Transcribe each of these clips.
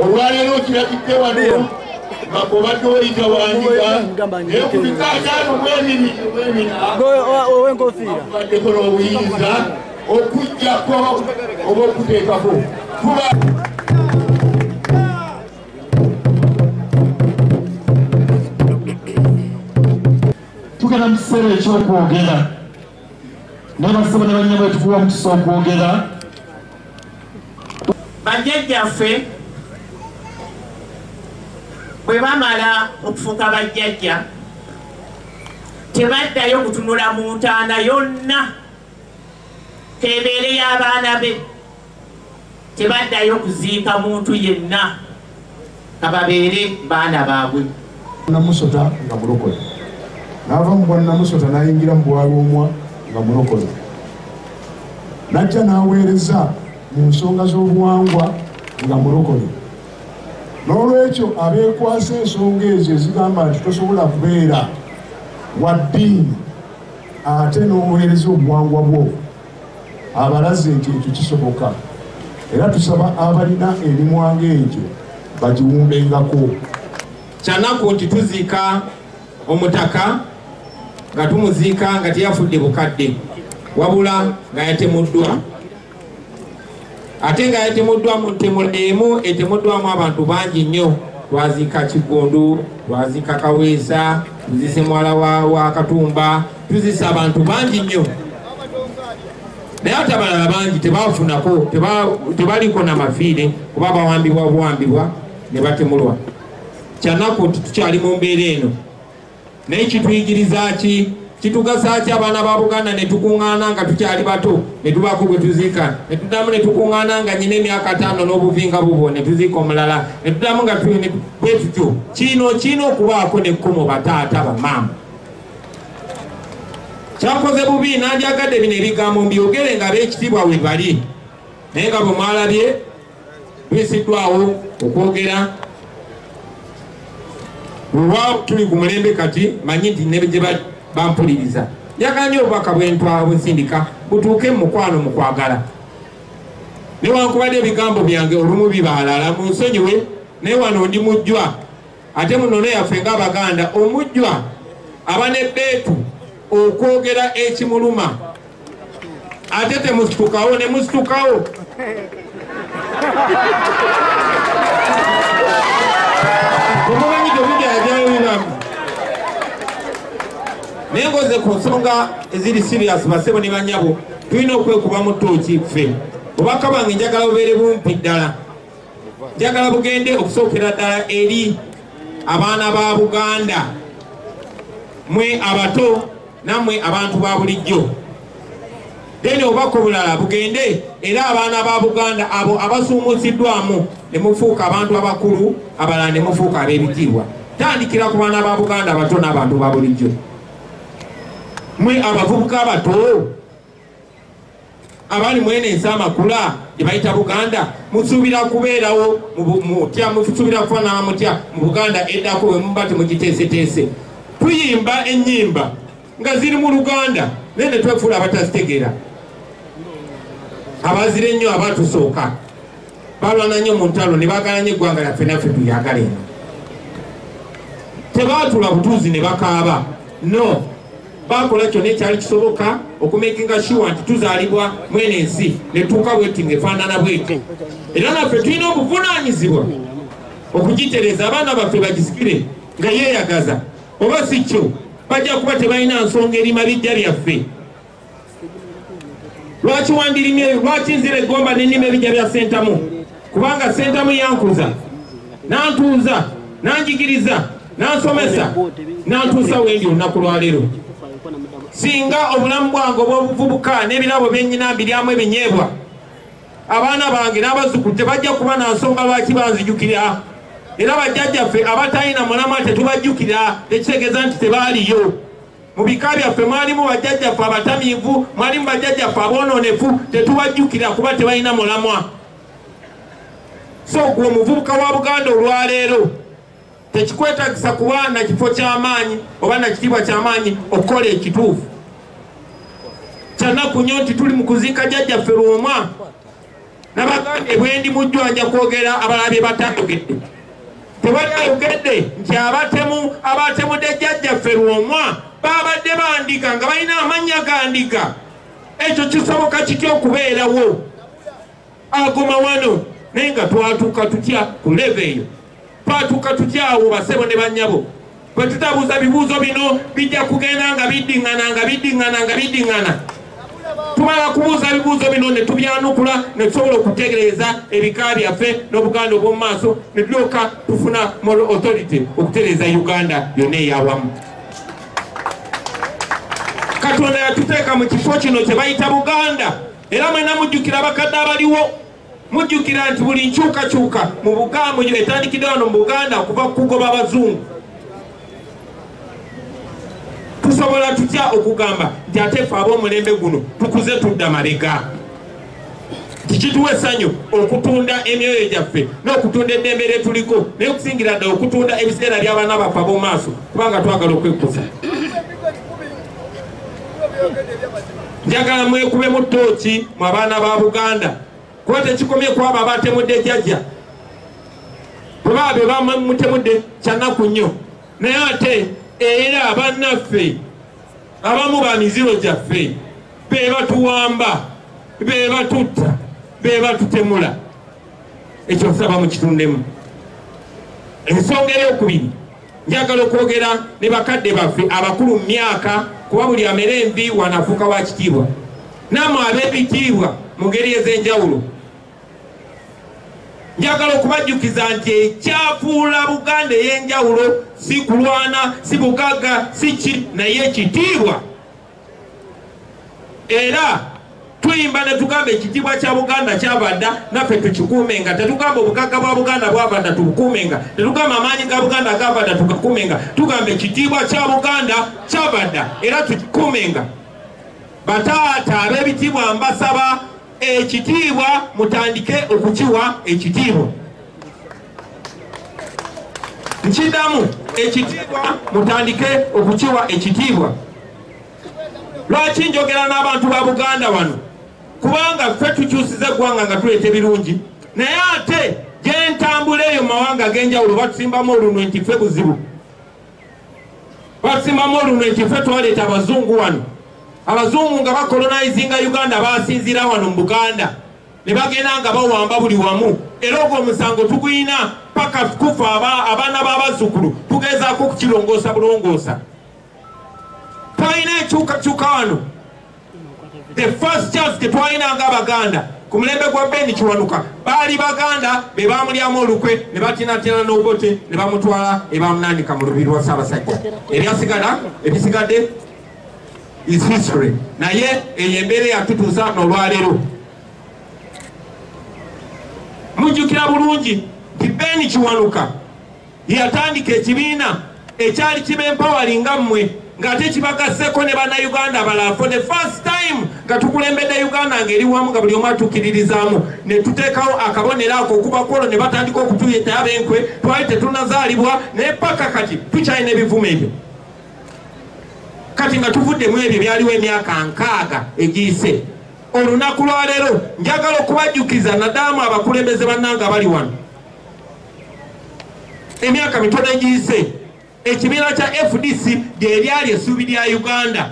olwaleero kiragidde wano nga kubadde oyita wandiga naye ku bikaataano bwebiriweminabaddeko n'obuyinza okujjako oba okuteekako kuba tugenda mu kiseera ekyokwogera nabasaba ne banyama etukuwa omukisa okwogera bajjajjaffe bwe bamala okufuuka bajjajja tebaddayo kutunula mu ntaana yonna kebeere y'abaana be tebaddayo kuziika muntu yenna kababeere baana baabwe namusota nga mulokole naava mu bwannamusota nayingira mu bwalwomwa nga mulokole najja naweereza mu nsonga z'obuwangwa nga mulokole n'olwekyo abeekwasa ensonga ezo ezigamba nti tosobola kubeera wa ddiini ate n'oweereza obuwangwa bwo abalaze nti ekyo kisoboka era tusaba abalina emimwa ng'egyo bagiwumbengako kyanaku nti tuziika omutaka nga tumuziika nga teyafudde bukadde wabula nga yatemuddwa ate nga yatemuddwa mu ntemu emu etemuddwamu abantu bangi nnyo twaziika kiggundu twaziika kaweesa tuzise mwala wa katumba tuzisa abantu bangi nnyo naye ate abalala bangi tebafunako tebaliko na mafiire kuba bawambibwa buwambibwa ne batemulwa kyanaku nti tukyali mu mbeera eno naye kituyigiriza ki kitugasa ki abaana ba buganda netukuŋŋaana nga tukyali bato netubaako gwe tuziika netudamu netukuŋŋaana nga nyina emyaka ataano n'obuvinga bubwo netuziika omulala netudamu nga bwe tutyo kino kirina okubaako nekkomo bataata bamaama kyakoze bubi nandyagadde bino ebigambo mbyogere nga ab'ekitiibwa we bali naye nga bwe mwalabye bisiddwawo okwogera wewa tuli ku mulembe kati manyi nti negye bampuliriza yaganye obubaka bwentwabusindika butuuke mu mukwano mu kwagala newankubadde ebigambo byange olumu bibaalala mu nsonyiwe naye wano ndi mujjwa ate mu nnono yaffe ng'abaganda omujjwa aba ne beetu okwogera ekimuluma ate temusitukawo ne musitukawo omumanyi tomujajaobibamu naye ngoze ku nsonga eziri sirias basebo ne banyabo tulina okwekubamu tooki ffe obaka bange njagala bubeere bumpi ddala njagala bugende okusookera ddala eri abaana ba buganda mwe abato nammwe abantu ba bulijjo then obubaka obulala bugende era abaana ba buganda abo abasuumuusiddwamu ne mufuuka abantu abakulu abalala ne mufuuka ab'ebitiibwa tandikira ku baana ba buganda abato n'abantu ba bulijjo mwe abavubuka abato abali mwene ensi amakula gyebayita buganda musuubira kubeerawo mutya musuubira kufanana mutya mu buganda eddako wemuba temugiteeseteese tuyimba enyimba nga ziri mu luganda naye netwefuula abatazitegeera abazira ennyo abatusooka balwana nnyo mu ntalo ne bagala nyo eggwanga lyaffe naffe tuyagala eno tebaatula butuuzi ne bakaaba no baakola kyonna ekyali kisoboka okumekinga shuwa nti tuzaalibwa mwene ensi netuuka bweti nga efaanana bweti era naffe tulina obuvunaanyizibwa okugitereza abaana baffe bagisikire nga yeeyagaza oba si kyo bajja kuba tebalina nsonga eri mabijja byaffe lwaki wandirimye eyo lwaki nzira egomba nenima ebijja bya sentamu kubanga sentamu yankuza nantuuza nanjigiriza nansomesa nantuusa wendi olunaku lwaleero singa obulamu bwange obwobuvubuka n'ebirabo byenyina mbiryamu ebinyeebwa abaana bange n'abazukulu tebajja kuba na nsonga lwaki banzijukira era bajjajjaffe abatalina mulama tetubajjukira tekitegeeza nti tebaaliyo mu bika byaffe mwalimu bajjajjaffe abatamiivu mwalimu bajjajjaffe aboononefu tetubajjukira kuba tebalina mulamwa so gwe omuvubuka wa buganda olwaleero tekikwetagisa kuba na kifo ky'amaanyi oba na kitiibwa ky'amaanyi okukola ekituufu kyanaku nnyo nti tuli mu kuziika jjajjaffe lwomwa nabagambye bwendi mujju anja kwogera abalala bye batayogedde tewali ayogedde nti abatemu abatemudde jjajjaffe lwomwa babadde bandiga nga balina amannya gandiga ekyo kisoboka kitya okubeerawo aguma wano naye nga twatuuka tutya ku leve eyo Twatuuka tutya awo basebo ne bannyabo? Bwe tutabuuza bibuuzo bino bijja kugenda nga biddingana nga biddingana nga biddingana. Tumala kubuuza bibuuzo bino ne tubyanukula ne tusobola okutegereeza ebika byaffe n'Obuganda obw'omu maaso ne tulyoka tufuna moral authority okutereeza Uganda yonna eyawamu. Katonda yatuteeka mu kifo kino kye bayita Buganda era mwena mujjukira abakadde abaliwo mujjukira nti buli nkyukakyuka mu bugambo yo etandikidde wano mu buganda okuva kukugoba abazungu tusobola tutya okugamba nti ate fe ab'omulembe guno tukuze tudda malega tikituwa essanyu okutunda emyoyo gyaffe n'okutunda eddembe lye tuliko naye okusingira ddala okutunda ebiseera by'abaana baffe ab'omaaso kubanga twagala okwekuza njagala mwekubemu ttooki mu abaana ba buganda kuba tekikomye kwabo abatemudde jajja kuba be bamutemudde kyanaku nnyo naye ate era abannaffe abamu ba miziro gyaffe be batuwamba be batutta be batutemula ekyo nsaba mukitundemu ensonga eyokubiri Njagala okwogera ne bakadde baffe abakulu mu myaka kuba buli amera envi wanafuuka wa kitiibwa naamwe ab'ebitiibwa mu ngeri ez'enjawulo njagala okubajjukiza nti ekyafuula buganda ey'enjawulo si kulwana si bugagga si ki naye ekitiibwa era tuyimba ne tugamba ekitiibwa kya buganda kyabadda naffe tukikuumenga tetugamba obugagga bwa buganda bwabadda tubukuumenga tetugamba amaanyi ga buganda agabadda tugakuumenga tugamba ekitiibwa kya buganda kyabadda era tukikuumenga bataata ab'ebitiibwa mbasaba ekitiibwa mutandike okukiwa ekitiibwa nkidamu ekitiibwa mutandike okukiwa ekitiibwa lwaki njogera n'abantu ba buganda wano kubanga ffe tukyusiza eggwanga nga tuleeta ebirungi naye ate gyentambula eyo mumawanga ag'enjawulo batusimbamu olunwe nti ffe buzibu batusimbamu olunwe nti ffe twaleeta abazungu wano abazungu nga bakolonizinga uganda basinziira wano mu buganda ne bagenda nga bawamba buli wamu era ogwo omusango tuguyina paka kufa abaana b'abazzukulu tugezaako okukirongoosa bulongoosa twalina enkyukakyuka wano the first chance tetwalina nga abaganda ku mulembe gwa beni kiwanuka baali baganda be bamulyamu olukwe ne batinatina n'obote ne bamutwala ne bamunanika mu lubiri lwa ssaabasajja ebyasigala ebisigadde is history naye eyo embeera yatutuusa nolwaleero mujjukira bulungi nti ben kiwanuka yatandika ekibiina ekyali kibempawali nga mmwe ng'ate kibagasseko ne bannayuganda abalala for the first time nga tukulembedde uganda ng'eri wamu nga buli omu atukiririzaamu ne tuteekawo akabonero ako okuva kwolwo ne batandika okutuyeta abenkwe twali tetunazaalibwa naye paka kati tukyalina ebivumo ebyo kati nga tuvudde mu ebyo byaliwo emyaka nkaaga egiyise olunaku lwaleero njagala okubajjukiza nadaamu abakulembeze bannanga bali wano emyaka mitono egiyise ekibiina kya fdc gyeryali essuubi lya uganda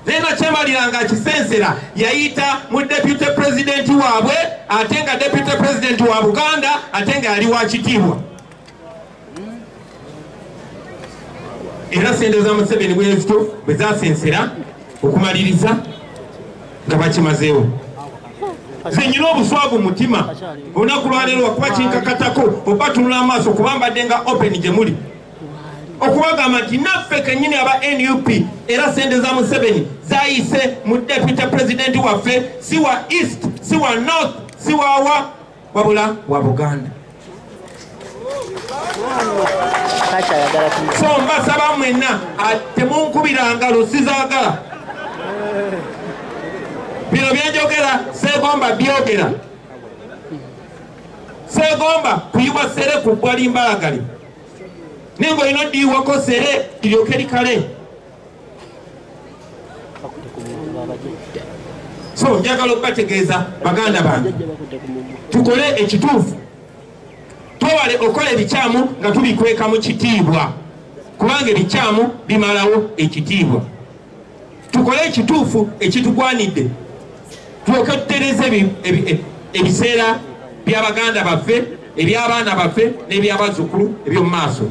naye nakyemalira nga akisensera yayita mu deputy pulezidenti waabwe ate nga deputy pulezidenti wa buganda ate nga yali wa kitiibwa era sente za museveni bwezito bwe zasensera okumaliriza nga bakimazeewo zenyina obuswavu mutima olunaku lwaleero wakuba kinkakatako oba tunula amaaso kuba mbadde nga open gye muli okubagamba nti naffe kenyini aba nup era sente za museveni zayise mu deputy president waffe si wa east si wa north si wawa wabula wa buganda so mbasaba mwenna temunkubiranga lusizagala bino byenjogera segomba byogera segomba kuyiwa sere ku bbwa limbalagali naye ngaolina odiyiwako sere liryoke likale so njagala okubategeeza baganda bange tukole ekituufu twewale okukola ebikyamu nga tubikweka mu kitiibwa kubanga ebikyamu bimalawo ekitiibwa tukole ekituufu ekitugwanidde tulyoke tutereze e, ebiseera byabaganda baffe ebyabaana baffe n'ebyabazukulu eby'omu maaso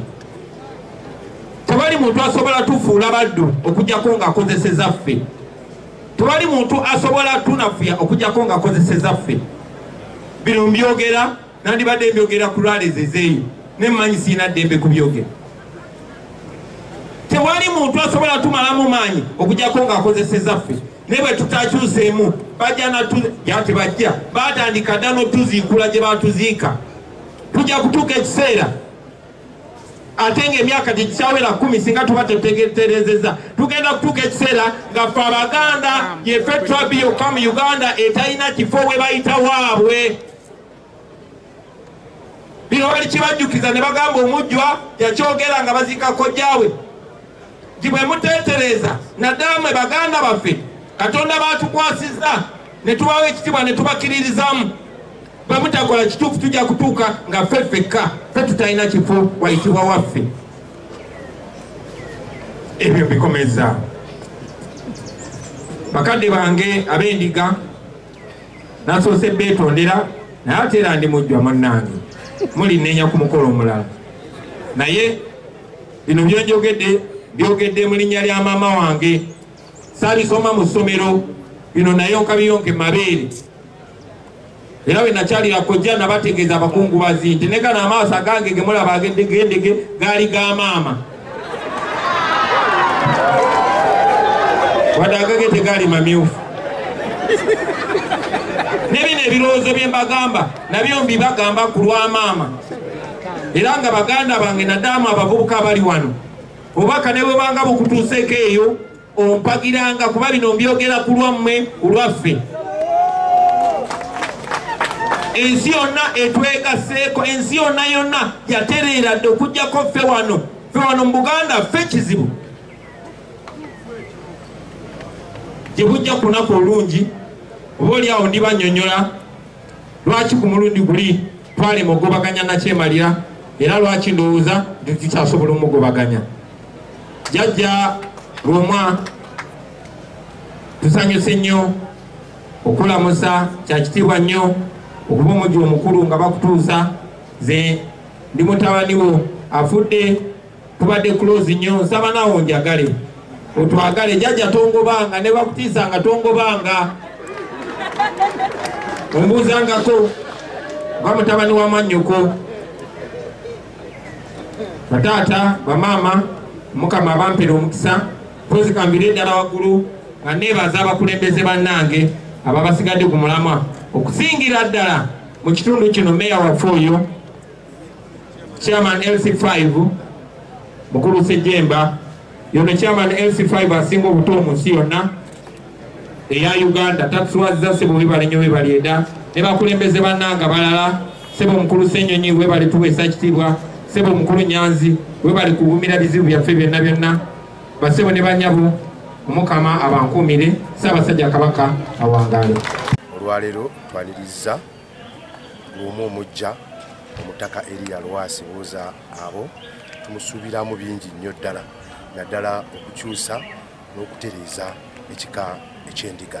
tewali muntu asobola tufuula baddu okujjako nga akozeseza ffe tewali muntu asobola tunafuya okujjako nga akozeseza ffe bino mbyogera nandibadde mbyogera ku lwalezezeeyo ne mmanyi sirina ddembe kubyogera tewali muntu asobola tumalamu maanyi okujjako nga akozeseza ffe naye bwe tutakyuseemu bajja natu ya tebajja batandika dda notuziikula gye batuziika tujja kutuuka ekiseera ate ng'emyaka tekikyawera kumi singa tuba tetegeterezeza tugenda kutuuka ekiseera nga fe abaganda yefe trabi yokka mu uganda etalina kifo we bayita waabwe bino bali kibajjukiza ne bagamba omujjwa yakyogera nga baziika kojjaawe nti bwe muteetereza naddala mwe baganda baffe katonda baatukwasizza ne tubawo ekitibwa ne tubakiririzamu bamutakola kituufu tujja kutuuka nga ffe ffekka ffe tutalina kifo wayitibwa waffe ebyo bikomeza bakadde bange abendiga nasoose beetondera naye ate era ndi mujjwa munnange mulinenya ku mukolo omulala naye bino byonjogedde byogedde mu linnya lya maama wange saabisoma mu ssomero bino naye okabiyonke mabeere era bwe nakyalira kojja nabategeeza abakungubazi nti ne gano amaaso agange ge mulaba agedegendege gaali ga maama wadde agage tegaali mamyufu ne bino ebirowoozo bye mbagamba nabyo mbibagamba ku lwa maama era nga baganda bange nadaamu abavubuka abali wano obubaka ne bwebanga bukutuuseeko eyo ompagiranga kuba bino mbyogera ku lwammwe ku lwaffe ensi yonna etwegaseeko ensi yonna yonna yatereera dde okugjako ffe wano ffe wano mu buganda ffe kizibu gye bujja ku lunaku olungi oba oli awo ndibanyonyola lwaki ku mulundi guli Twalema okugobaganya nakyemalira era lwaki ndowooza nti tukyasobola omugobaganya. Jajja Lwomwa tusanyuse nnyo okulamusa kyakitiibwa nnyo okuba omujja omukulu nga bakutuusa ze ndi mutabaniwo afudde kubadde close nnyo nsaba nawo njagale otwagale jajja tongobanga ne bakutiisanga tongobanga ombuuzangako nga mutabani wa mannyoko bataata bamaama mukama abampera omukisa mpozi kambire eddala waggulu nga neebaza abakulembeze bannange ababasigadde ku mulamwa okusingira ddala mu kitundu kino meeya waffe oyo chairman LC5 mukulu Sejemba yono chairman LC5 asinga obuto mu nsi yonna eya Uganda tatuswaziza sebo webale nyo webale eda ne bakulembeze bananga balala sebo mukulu Senyonyi webale tuwesa kitibwa sebo mukulu Nyanzi webale kugumira bizibu byaffe byonna byonna basebo ne banyabo omukama abankuumire ssaabasajja kabaka awangaale olwaleero twaniriza ng'omu omujja omutaka eriya lwasi buuza abo tumusuubiramu bingi nnyo ddala naddala okukyusa n'okutereeza ekika ekyendiga